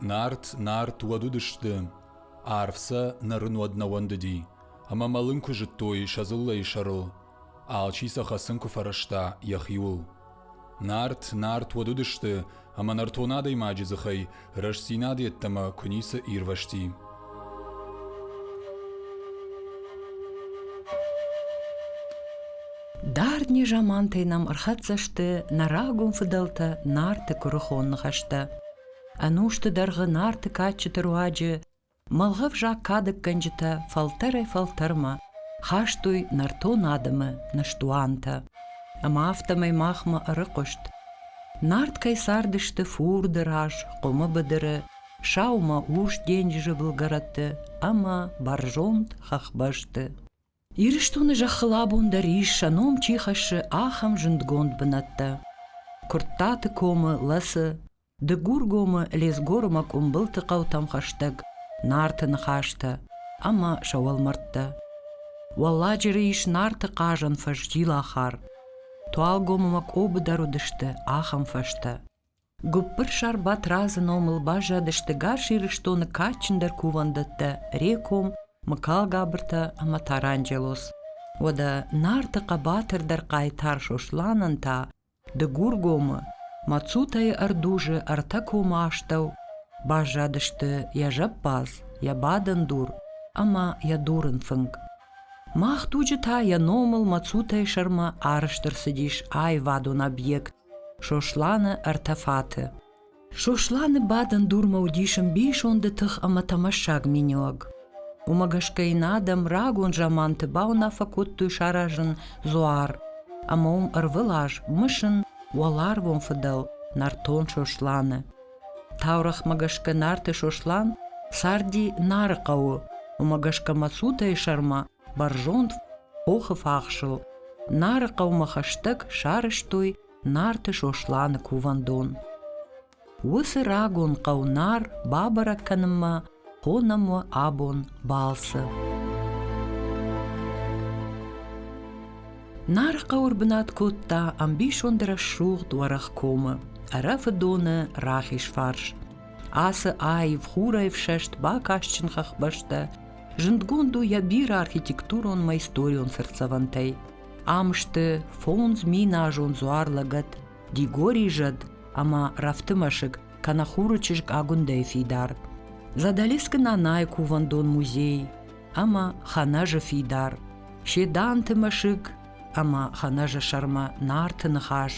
Нарт, Нарт уӕд уыдысты, арв сӕ нӕ рын уӕд нӕ уӕндыди, ӕмӕ мӕлын куы зыдтой сӕ дзыллӕйы сӕрыл, Алчи сӕ хӕцын куы фӕрӕзта йӕхиуыл. Нарт, нарт уӕд уыдысты, ӕмӕ нӕртон адӕймаджы дзыхӕй рӕстдзинад йеддӕмӕ куы ницы ирвӕзти. Дардни замантӕй нӕм ӕрхӕццӕ сты нӕ рагон фыдӕлтӕ Нарты куырыхон ныхӕстӕ. Ӕнусты дӕргъы Нарты кадджыты руаджы Мӕлгъӕвзаг кадӕггӕнджытӕ фӕлтӕрӕй-фӕлтӕрмӕ хастой нӕртон адӕмы нӕстуантӕ. Ӕмӕ афтӕмӕй махмӕ ӕрыхъуыст, Нарт кӕй цардысты фурды раз, къуымы быдыры, саумӕ урс денджызы былгӕрӕтты ӕмӕ бӕрзонд хӕхбӕсты. Ирыстоны зӕххыл абон дӕр ис, сӕ ном чи хӕссы, ахӕм зындгонд бынӕттӕ. Куырттаты комы лӕцы Дыгургомы, Лезгорымы къуымбылты хъӕутӕм хӕстӕг Нарты ныхӕстӕ ӕмӕ сӕ уӕлмӕрдтӕ. Уӕлладжыры ис Нарты хъазӕн фӕзджилахар. Туалгомымӕ къобы дӕр уыдысты ахӕм фӕзтӕ. Гуыппырсар Батразы номыл баззадысты Гас Ирыстоны кадджындӕр кувӕндӕттӕ Реком, Мыкалгабыртӕ ӕмӕ Таранджелос. Уӕдӕ Нарты хъӕбатырдӕр хъайтар Сосланӕн та Дыгургомы Мацутӕйы ӕрдузы ӕртӕ комы астӕу баззадысты йӕ зӕппадз, йӕ бадӕн дур ӕмӕ йӕ дурын фынг. Мах туджы та йӕ номыл Мацутӕйы сӕрмӕ ӕрыстыр цыдис аивадон объект Сосланы ӕртӕ фаты. Сосланы бадӕн дурмӕ уыдис ӕмбисонды тых ӕмӕ тӕмӕссаг миниуӕг. Уымӕ гӕсгӕ йын адӕм рагон заманты бауынаффӕ кодтой саразын дзуар, ӕмӕ уым ӕрвылаз мысын уӕларвон фыдӕл нӕртон Сосланы. Таурӕгъмӕ гӕсгӕ Нарты Сослан царди Нары хъӕуы, уымӕ гӕсгӕ Мӕцутӕйы сӕрмӕ бӕрзонд хохы фахсыл. Нары хъӕумӕ хӕстӕг сарӕзтой Нарты Сосланы кувӕндон. Уыцы рагон хъӕу Нар бабӕрӕг кӕнынмӕ хонӕм уӕ абон балцы. Нар хъӕуыр бынат кодта ӕмбисонды рӕсугъд уӕрӕх комы, ӕрӕфы доны рахиз фарс. Ацы аив хурӕй фсӕст бакастджын хӕхбӕстӕ зындгонд у йӕ бирӕ архитектурон мӕ историон цыртдзӕвӕнтӕй. Ам сты фондз миназон дзуар-лӕгӕт Дигори зӕд ӕмӕ рӕфты мӕсыг, кӕнӕ хуры чызг Агуындӕйы фидар, Задӕлескы Нанайы кувӕндон музей ӕмӕ Хӕнӕжы фидар, Седанты мӕсыг ӕмӕ Хӕнӕжы сӕрмӕ Нарты ныхас.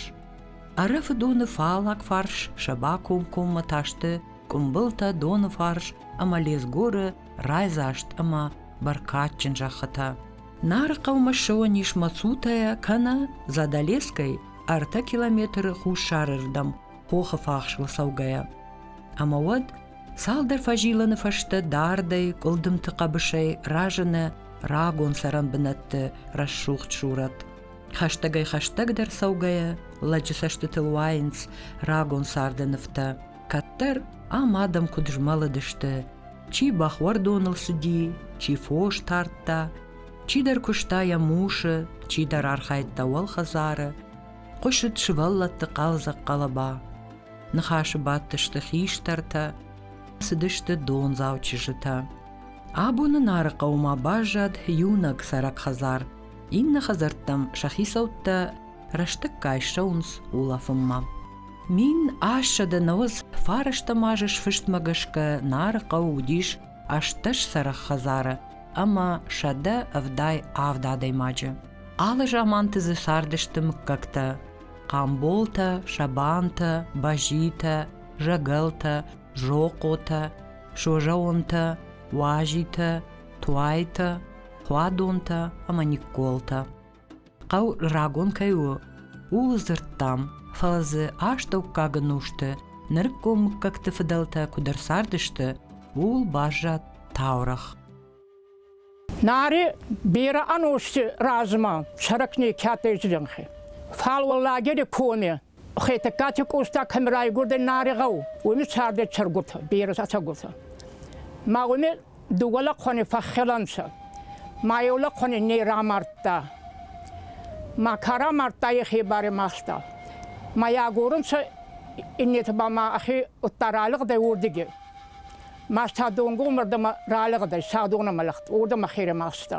Ӕрӕфыдоны фаллаг фарс сӕ бакомкоммӕ та сты Къуымбылтӕ доны фарс ӕмӕ Лезгоры райдзаст ӕмӕ бӕркадджын зӕххытӕ. Нарыхъӕумӕ ссӕуӕн ис Мацутӕйӕ кӕнӕ Задалескӕй ӕртӕ километры хуссарырдӕм хохы фахсыл цӕугӕйӕ. Ӕмӕ уӕд цалдӕр фӕзилыны фӕстӕ дардӕй, къуылдымты хъӕбысӕй разыны рагон цӕрӕн бынӕтты рӕсугъд сурӕт. Хӕстӕгӕй-хӕстӕгдӕр цӕугӕйӕ лӕджы цӕстытыл уайынц рагон царды нывтӕ. Кӕддӕр ам адӕм куыд змӕлыдысты, чи бӕхуӕрдоныл цыди, чи фос тардта, чидӕр куыста йӕ мусы, чидӕр архайдта уӕлхӕдзары, хъуысыд сывӕллӕтты хъӕлдзӕг хъӕлӕба. Ныхасы бадтысты хистӕртӕ, цыдысты дондзау чызджытӕ. Абоны Нарыхъӕумӕ баззад иунӕг цӕрӕг хӕдзар. Иннӕ хӕдзӕрттӕм сӕ хицӕуттӕ рӕстӕггай ссӕуынц улӕфынмӕ. Мин ӕссӕдӕ нӕуӕдз фарӕстӕм азы сфыстмӕ гӕсгӕ Нары хъӕуы уыдис ӕстдӕс сӕрых хӕдзары ӕмӕ сӕдӕ ӕвдай авд адӕймаджы. Алы заманты дзы цардысты мыггӕгтӕ Хъамболтӕ, Сабантӕ, Бӕзитӕ, Зӕгӕлтӕ, Зохъотӕ, Созӕонтӕ, Уазитӕ, Туайтӕ, Хуадонтӕ ӕмӕ Никколтӕ. хъӕу рагон кӕй у, ууыл дзырдтам, фӕлӕ дзы астӕуккаг ӕнусты нырыккон мыггӕгты фыдӕлтӕ куыд ӕрцардысты, ууыл баззад таурӕгъ. Наре бирӕ ӕнусты размӕ сӕрак некӕдӕй зӕнхи. Фал уӕ лагери коне Хетӕгкати Къоста кӕм райгурдӕй Нари гъӕу, уоми цардӕй цӕргут, берӕ цӕгурт. Ма уоми дууӕ лӕхъуӕни фӕххелӕнцӕ, ма еу лӕхъуӕни не рамардта. Ма ка рамардта, ехе барӕ махста. Ма йе агорунцӕ иннети ба ма ӕхе удта ралигъдӕй уордиги. Ма Садонгу мӕрдӕмӕ ралигъдӕй Садонӕмӕ лӕгт, уордӕмӕ херӕ махста.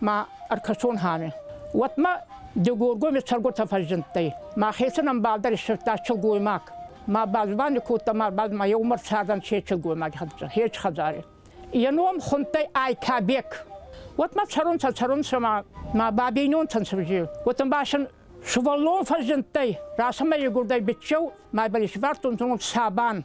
ма ӕркӕсон хами. Уотмӕ Дегоргоми сӕрготӕ фӕззиндтӕй. Мӕхецӕн ӕмбалдӕр иссердта силгоймаг. Ма базвани кодта ма ӕрбад ма еу марсадӕн се силгоймаги хӕнцӕ, хеч хӕдзари. Е ном хундтӕй Айтӕбек. Уотмӕ цӕрунцӕ, цӕрунцӕ ма ма бабийнонтӕн цивзи. Уотӕ ба син сувӕллон фӕззиндтӕй. Расӕмӕ игурдӕй биччеу, ма ба исвардтонцӕ сабан.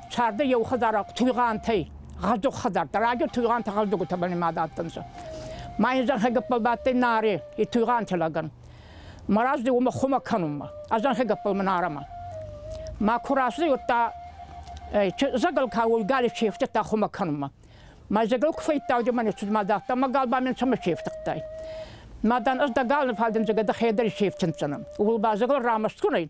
Сӕрды еухӕдзарахъ Туйгъантӕй, гъӕздуг хӕдзартӕ, радио Туйгъанты гъӕздугутӕбӕл имад адтӕнцӕ. Ма ин зӕнхӕ гӕппӕл бадтӕй Наре, и Туйгъанти лӕгӕн. Мараздӕй уомӕ хумӕ кӕнунмӕ, ӕ зӕнхӕ гӕппӕл мӕн арӕмӕ. Ма ку рацудӕй, уӕдта зӕгӕл ка уолгали чи ефтудта хумӕ кӕнунмӕ. Ма зӕгӕл ку фӕййидтайдӕ мӕ нецуд ма дардта, ма гал ба мин цӕмӕ чи ефтудтай? Ма дан ӕз дӕ гал ниффалдӕн зӕгӕ дӕхе дӕр исефтиндзӕнӕн. Ууыл ба зӕгӕл рамӕстгун ӕй,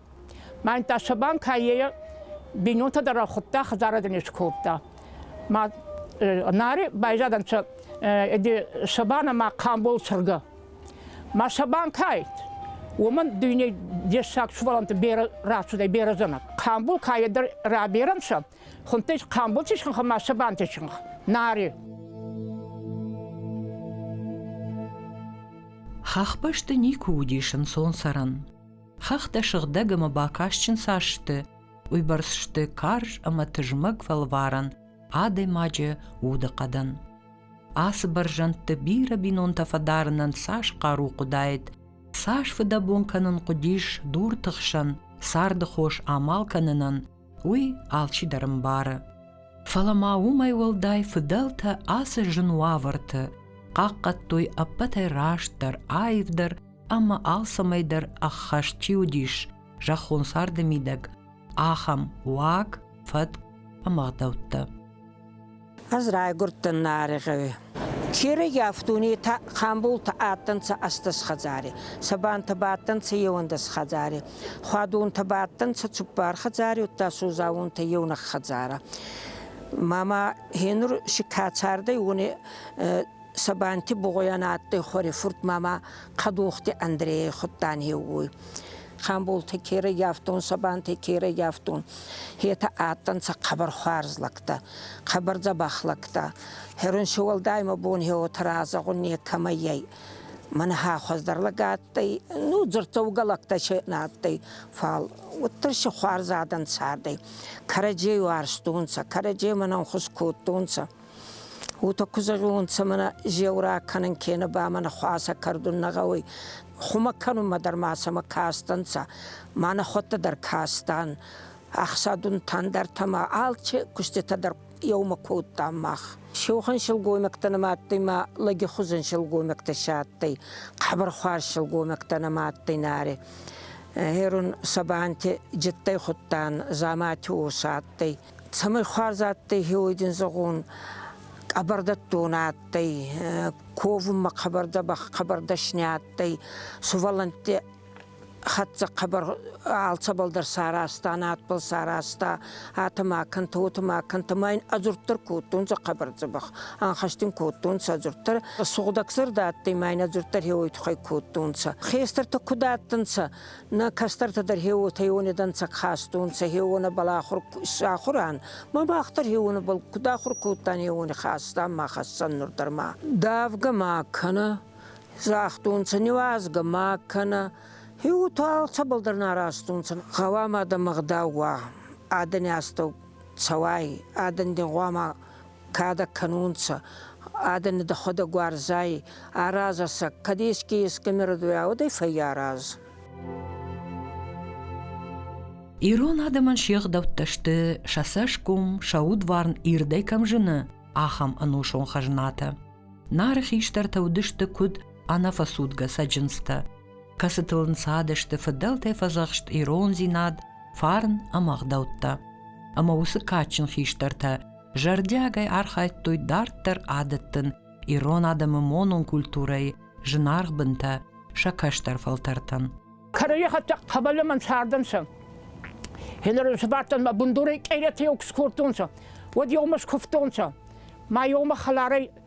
Мӕн Тасабан кайе бинонтӕ дӕр худта, хӕдзарадӕн скодта. Ма нари байзадӕнцӕ эди Сабана ма Камбол сырга. Ма Сабан кайт, уомӕн дүйней дессаг суваланта бере рацудӕй березанак. Камбул кайе дӕр раберӕнцӕ, хунтӕй Камбулти сынха ма Сабанти сынха. Нари. Хахбӕсты никуы уыдис ӕнцонсӕрӕн. Хӕхтӕ сыгъдӕг ӕмӕ бакастджын цас сты, уыйбӕрц сты карз ӕмӕ тызмӕг фӕлварӕн адӕймаджы удыхъӕдӕн. Ацы бӕрзӕндты бирӕ бинонтӕ фӕдарынӕн цас хъару хъуыдаид, цас фыдӕбон кӕнын хъуыдис дурты хсӕн царды хос амал кӕнынӕн, уый алчидӕр ӕмбары. Фӕлӕ ма уымӕй уӕлдай фыдӕлтӕ ацы зын уавӕрты хъахъхъӕдтой ӕппӕтӕй растдӕр, аивдӕр ӕмӕ алцӕмӕй дӕр ӕххӕст чи уыдис, зӕххон царды мидӕг, ахӕм уаг, фӕтк ӕмӕ гъдӕуттӕ. Ӕз райгурдтӕн Нарегъеуи. Черегиав дуней хъамбултӕ адтӕнцӕ ӕстдӕс хӕдзари, сабантӕ бадтӕнцӕ еуӕндӕс хӕдзари, хуадунтӕ бадтӕнцӕ цуппар хӕдзари, удта сузаунтӕ еунӕг хӕдзарӕ. Мама гьенур си ка цардӕй, уони Сабанти Бугъойӕн адтӕй хуӕри фурт мама Кадохти Андрейӕй худтан еугой. Хамбулти ке раййафтон, Сабанти ке раййафтон, етӕ адтӕнцӕ хъӕбӕр хуарз лӕгтӕ, хъӕбӕр дзӕбӕх лӕгтӕ. Херонсиуӕлдаймӕ бонхе уотӕ разӕгъун некӕмӕй ӕй. Мӕнӕ хуӕздӕр лӕг адтӕй, ну дзурддзӕугӕ лӕгтӕ се нӕ адтӕй, фал уӕддӕр си хуарз адӕн цардӕй. Кӕрӕдзей уарзтонцӕ, кӕрӕдземӕн ӕнхус кодтонцӕ. Уотӕ ку зӕгъунцӕ, мӕнӕ зеурӕ кӕнун кенӕ ба мӕнӕ хуасӕ кӕрдун нӕ гъӕуй. Хумӕ кӕнунмӕ дӕр ма сӕмӕ кастӕнцӕ, ма нӕхуӕдтӕ дӕр кастан. Ӕхсӕдунтӕн дӕртӕ ма алчи куститӕ дӕр еумӕ кодтан мах. Сеухӕн силгоймӕгтӕ нӕма адтӕй ма лӕгихузӕн силгоймӕгтӕ се адтӕй. Хъӕбӕрхуарз силгоймӕгтӕ нӕма адтӕй наре. Гъерун Сабанти джиттӕй худтан, Дзамати ос адтӕй. Цӕмӕй хуарз адтӕй хеуйдин зӕгъун, къӕбӕрдӕттон адтӕй, ковунмӕ хъӕбӕрдӕ ба хъӕбӕрдӕсни адтӕй, сувӕллӕнтти хӕццӕ хъӕбӕр алцӕбӕл дӕр саразта, надбӕл саразта, атӕ ма кӕнтӕ, уотӕ ма кӕнтӕ. Ма ин ӕдзурддӕр кодтонцӕ хъӕбӕр дзӕбӕх, ӕнхӕстин кодтонцӕ ӕдзурддӕр. Сугъдӕгзӕрдӕ адтӕй ма ин ӕдзурддӕр хеуой туххӕй кодтонцӕ. Хестӕртӕ куд адтӕнцӕ, Нӕ кӕстӕртӕ дӕр хеуотӕйонедӕнцӕ хастунцӕ хеуонӕбӕл ахур сахуран. Ма бӕхтӕр хеуонӕбӕл куд ахур кодтан хеуони хастан ма хӕссӕн нур дӕр ма. Давгӕ ма кӕнӕ, загътунцӕ, нивазгӕ ма кӕнӕ. Хеуото алцӕбӕл дӕр нарастунцӕ. Гъӕуама дӕ мӕгъдау уа, адӕни астӕу цӕуай, адӕн дин гъуама кадӕг кӕнунцӕ, адӕни дӕхуӕдӕг уарзай, аразӕ сӕ, кӕд еске еске нерӕдуя, уӕдӕй фӕййараз. Ирон адӕмӕн се гъдӕуттӕ сты, сӕ цӕсгом, сӕ удварн ирдӕй кӕм зыны, ахӕм ӕнусон хӕзнатӕ. Нары хистӕртӕ уыдысты куыд ӕнӕфӕцудгӕ цӕджындзтӕ, кӕцытыл ӕнцадысты фыдӕлтӕй фӕдзӕхст ирондзинад, фарн ӕмӕ ӕгъдӕуттӕ. Ӕмӕ уыцы кадджын хистӕртӕ зӕрдиагӕй архайдтой дарддӕр адӕттын ирон адӕмы монон культурӕйы зынаргъ бынтӕ сӕ кӕстӕр фӕлтӕртӕн. Кӕрӕйы хӕттӕг хъӕбӕлымӕн цардӕнцӕ. Хенеры сбадтӕн мӕ бундурӕй къейлетӕ куы скордтонцӕ, уӕд еумӕ скуывтонцӕ. Ма еумӕ хӕларӕй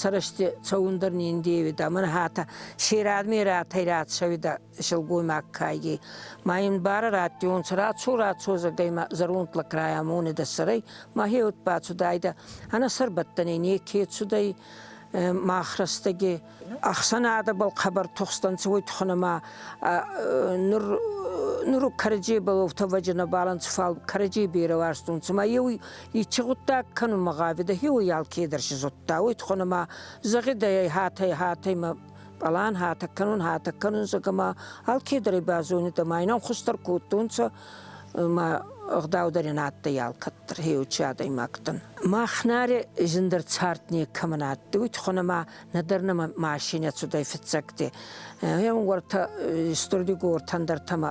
сӕрысти цӕундӕр ниндевидӕ, мӕн хатӕ сирӕдми рӕтӕй рацӕуидӕ силгоймаг кайги. Ма ин барӕ раттионцӕ, рацо-рацо зӕгӕймӕ зӕронтлӕ края монидӕ сӕрӕй, ма хеуд бацудайдӕ, ӕна сӕрбӕттӕнӕй неке цудӕй, мах рӕстӕги ӕхсӕнадӕбӕл хъӕбӕр тухстӕнцӕ уой тухӕн ӕма нур кӕрӕдзей бӕлвурдтӕ вӕджинӕбӕл ӕнцӕ, фал кӕрӕдзей берӕ уарзтонцӕ. Ма еу Ичи гъуддаг кӕнунмӕ гъавидӕ хеуй алкедӕр си зудта, уой тухонӕмӕ зӕгъидӕ ӕй хатӕй хатӕймӕ пълан хатӕг кӕнун, хатӕг кӕнун, зӕгӕмӕ алкедӕр базойнидӕ ма инам хустӕр кодтонцӕ ма ӕгъдаудӕр ин адтӕй алкӕддӕр хеучи адӕймӕгтӕн. Мах наре зиндӕр цард некӕмӕн адтӕй, уой тухонӕмӕ нӕдӕр нӕмӕ машинӕ цудӕй фиццӕгти. Еугуӕртӕ Стурдигор тандартӕмӕ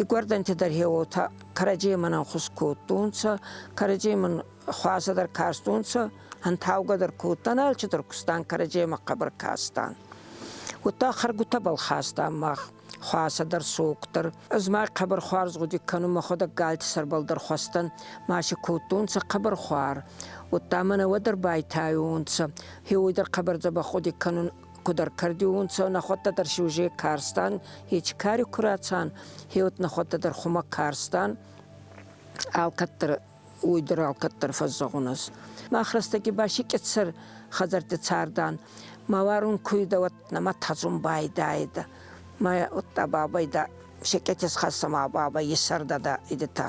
Игуӕрдӕнтӕ дӕр хеуотӕ кӕрӕдземӕн ӕнхус кодтонцӕ, кӕрӕдземӕн хуасӕ дӕр кастонцӕ, ӕнтаугӕ дӕр кодтан, алчи дӕр кустан кӕрӕдземӕ хъӕбӕр кастан. Уотта хӕргутӕбӕл хастан мах хуасӕ дӕр, сок дӕр. Ӕз ма хъӕбӕр хуарз гъуди кӕнун, мӕхуӕдӕг галти сӕрбӕл дӕр хуӕстӕн маши кодтонцӕ хъӕбӕр хуар. Уотта мӕнӕ уӕдӕр байтайонцӕ, хеуой дӕр хъӕбӕр дзӕбӕх гъуди кӕнун, куд ӕркӕрдиуунцӕ нӕхуӕдтӕ дӕр си уже карстан хечи кари ку рацан хеуӕт нӕхуӕдтӕ дӕр хумӕ карстан алкӕддӕр уойдӕр алкӕддӕр фӕззӕгъунӕс. Мах рӕстӕги ба си кьетсӕр хӕдзӕртти цардан. Ма варун куйдӕ уӕдта ма тадзун байдаидӕ. Ма уӕдта бабайдӕ, се кьетес хӕссӕ ма баба иссӕрдадӕ идетӕ.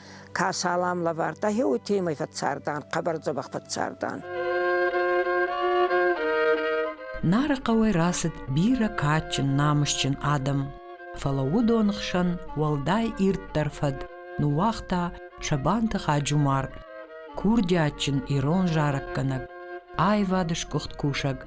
Ка салам лӕвардта, хеуи темӕй фӕццардан, хъӕбӕр дзӕбӕх фӕццардан. Нары хъӕуӕй рацыд бирӕ кадджын, намысджын адӕм, фӕлӕ уыдон хсӕн уӕлдай ирддӕр фӕд ныууагъта Сабанты Хаджумар, курдиатджын ирон зарӕггӕнӕг, аивады сгуыхт кусӕг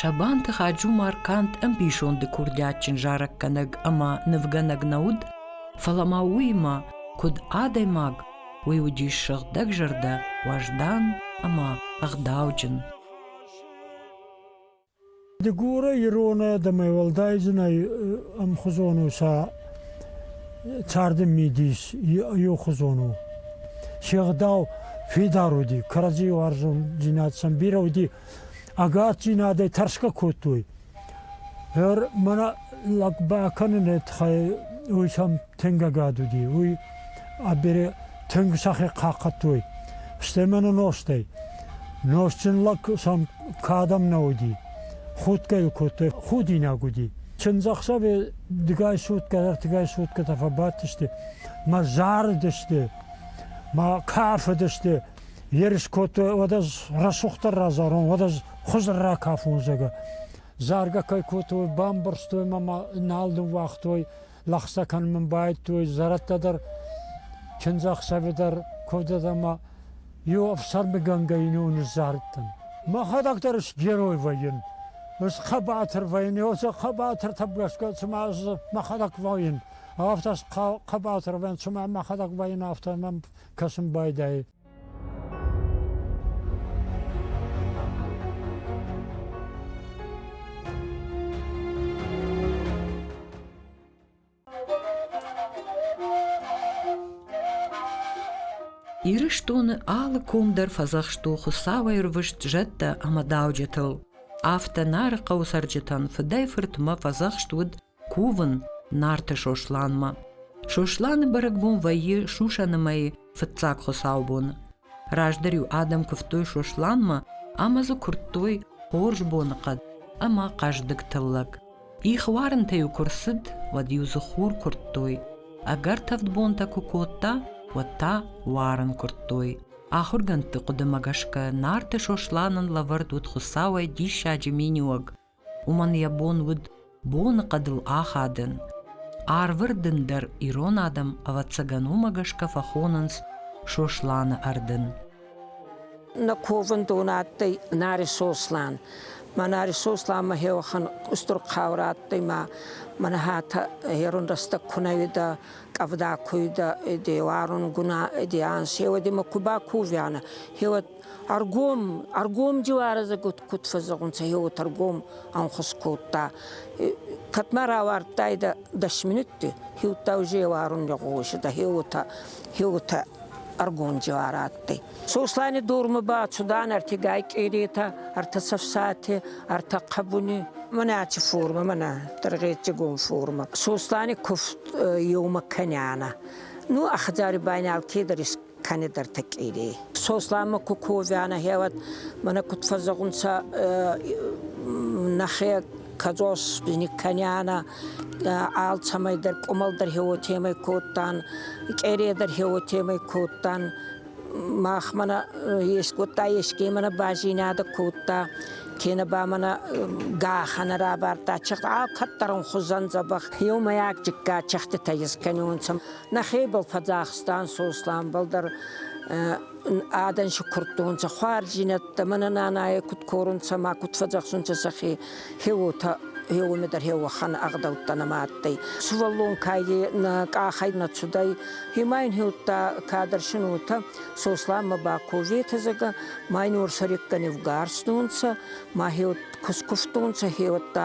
Сабанты Хаджумарканд ӕмбисонды курдиатджын зарӕггӕнӕг ӕмӕ нывгӕнӕг нӕ уыд, фӕлӕ ма уыимӕ, куыд адӕймаг, уый уыдис сыгъдӕгзӕрдӕ, уӕздан ӕмӕ ӕгъдауджын. Дыгуры ирон адӕмӕй уӕлдай зынӕй ӕмхуызон у сӕ царды мидис иухуызон у. Се гъдау фидар уыди, кӕрӕдзийы уарзондзинад сӕм бирӕ уыди, ӕгаддзинадӕй тӕрсгӕ кодтой. Гӕр мӕнӕ лӕг бакӕныны тыххӕй уый сӕм тынг ӕгад уыди. Уый а бере тынг сӕхе хъахъхъӕдтой. Стӕй мӕнӕ нозтӕй. Нозтджын лӕг сӕм кӕдӕм нӕ уыди. Худгӕ йыл кодтой, худинаг уыди. Чындзӕхсӕвы дыгай сутгӕ, ӕртыгай сутгӕтӕ фӕбадтысты, мӕ зарыдысты, мӕ кафыдысты. Ерыс кодтой, уӕд ӕз рӕсугъддӕр разарон, уӕд ӕз хуызыр ракафон, зӕгъгӕ. Заргӕ кӕй кодтой, бамбӕрзтой мӕ, мӕ нал ныууагътой. Лӕхсӕ кӕнын мын байдтой зӕрӕдтӕ дӕр, чындзӕхсӕвы дӕр куывдад ӕмӕ иу ӕфсӕрмыгӕнгӕ ину ныззарыдтӕн. Мӕхӕдӕг дӕр сгерой вӕййын, схъӕбатыр вӕййын, уыцы хъӕбатыртӕм гӕсгӕ цыма ӕз мӕхӕдӕг вӕййын, афтӕ схъӕбатыр вӕййын, цыма мӕхӕдӕг вӕййын, афтӕ мӕм кӕсын байдайы. Ирыстоны алы ком дӕр фӕдзӕхсты Хуыцауӕй рвыст зӕдтӕ ӕмӕ дауджытыл. Афтӕ Нарыхъӕуы цӕрджытӕн фыдӕй фыртмӕ фӕдзӕхст уыд кувын Нарты Сосланмӕ. Сосланы бӕрӕгбон вӕййы сусӕны мӕйы фыццаг хуыцаубоны. Раздӕр-иу адӕм куывтой Сосланмӕ ӕмӕ дзы куырдтой хорз боныхъӕд ӕмӕ хъӕздыг тыллӕг. Их уарынтӕ-иу куы рцыд, уӕд-иу дзы хур куырдтой. Ӕгӕр тӕвд бонтӕ куы кодта, уӕд та уарын куырдтой. Ахуыргӕндты хъуыдымӕ гӕсгӕ Нарты Сосланӕн лӕвӕрд уыд хуыцауӕй диссаджы миниуӕг Уымӕн йӕ бон уыд боныхъӕдыл ахадын. Арвы рдын дӕр ирон адӕм, ӕвӕццӕгӕн, уымӕ гӕсгӕ фӕхонынц Сосланы ӕрдын. На ковӕндон адтӕй Нари Сослан. Ма Нари Сосланмӕ хеуӕхӕн устур хъаурӕ адтӕй ма мӕнӕ хатӕ ерун рӕстӕг ку нӕ уидӕ, къӕвда ку уидӕ, де уарунгуна, де ан, сеуӕди ма ку бакувианӕ, хеуӕд Ӕргом, ӕргом диларазӕ куд фӕззӕгъунцӕ, е уотӕ ӕргом ӕнхус кодта. Кӕдмӕ равардтайдӕ дӕс минутти, хеудта уже еуарун лӕгъуосидӕ, хе уотӕ, хе уотӕ ӕргом дилар адтӕй. Сослани дурмӕ ба цудан ӕртигай къеретӕ, ӕртӕ цӕфсати, ӕртӕ хъӕбуни, мӕнӕчи форма, мӕнӕ тӕргъетчигон форма. Сослани куфт еумӕ кӕнянӕ. Ну, а хӕдзари байнал кедӕр кӕнедӕртӕ кири. Сосланмӕ ку ковианӕ хеуат, мӕнӕ куд фӕззӕгъунцӕ нӕхе кадзос никканиана, алцӕмӕй дӕр къумал дӕр хеуотемӕй кодтан, къере дӕр хеуотемӕй кодтан, мах мӕнӕ ескодта, еске мӕнӕ базинадӕ кодта, кенӕ ба мӕнӕ гаханӕ рабардта, чех алкӕддӕр ун хузӕн дзӕбӕх. Еумӕйаг джиггат чехтитӕ искӕнионцӕ. Нӕхебӕл фӕдзӕхстан Сосланбӕл дӕр адӕн сукурдтонцӕ хуарзинӕдтӕ, мӕнӕ нанайӕ куд корунцӕ ма куд фӕдзӕхсунцӕ сӕхе хеуотӕ еуеме дӕр хеуӕхӕн ӕгъдӕуттӕ нӕма адтӕй. Сувӕллон кайде нӕ къахӕй нӕ цудӕй, имӕ ин хеудта кадӕрсин уотӕ, Сосланмӕ ба коветӕзӕгӕ, ма ин уорсӕреггӕ не вгарстонцӕ, ма хеуӕт кускувтонцӕ, хеуӕттӕ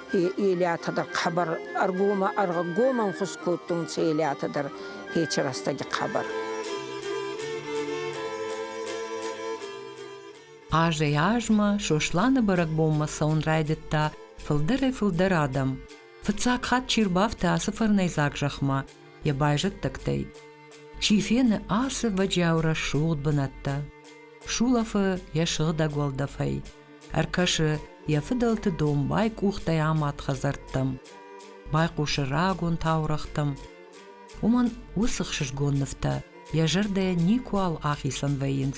Елиата дӕр хабар ӕргомӕн хус кодтонцӕ Елиата дӕр хечи рӕстӕги хабар. Азӕй азмӕ Сосланы бӕрӕгбонмӕ цӕун райдӕдта фулдӕрӕй-фулдӕр адӕм. Фиццаг хатт чи рбафта ацы фӕрнӕйдзаг зӕхмӕ йӕ байзӕддӕгтӕй. Чи фены ацы вӕджиау рӕсугъд бынӕттӕ. Сулӕфы йӕ сыгъдӕг уӕлдӕфӕй. Ӕркӕсы йӕ фыдӕлты домбай къухтӕй амад хӕдзӕрттӕм, байхъусы рагон таурӕгътӕм. Уымӕн уыцы хсызгон нывтӕ йӕ зӕрдӕйӕ никуал ахицӕн вӕййынц,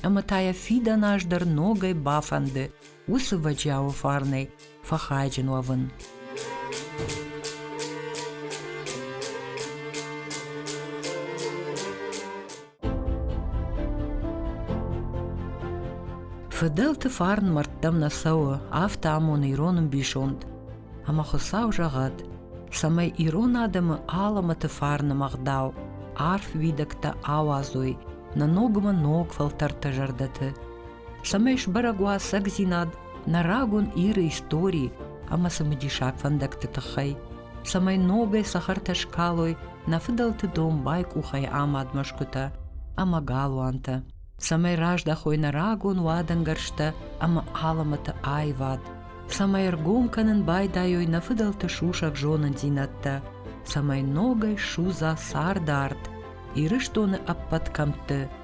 ӕмӕ та йӕ фидӕн аз дӕр ногӕй бафӕнды уыцы вӕджиауы фарнӕй фӕхайджын уӕвын. Фыдӕлты фарн мӕрдтӕм нӕ цӕуы, афтӕ амоны ирон ӕмбисонд. Ӕмӕ Хуыцау зӕгъӕд, цӕмӕй ирон адӕмы алӕмӕты фарны мӕгъдау, арф уидӕгтӕ ауадзой нӕ ногмӕ ног фӕлтӕртӕ зӕрдӕты, цӕмӕй сбӕрӕг уа цӕгдзинад нӕ рагон Иры истории ӕмӕ цымыдисаг фӕндӕгты тыххӕй. цӕмӕй ногӕй цӕхӕртӕ скалой нӕ фыдӕлты домбай къухӕй амад мӕсгуытӕ ӕмӕ галуантӕ, цӕмӕй раздӕхой нӕ рагон уадӕнгӕрзтӕ ӕмӕ алымыты аивад, цӕмӕй ӕргом кӕнын байдайой нӕ фыдӕлты сусӕг зонындзинӕдтӕ, цӕмӕй ногӕй судза цард арт Ирыстоны ӕппӕт кӕмтты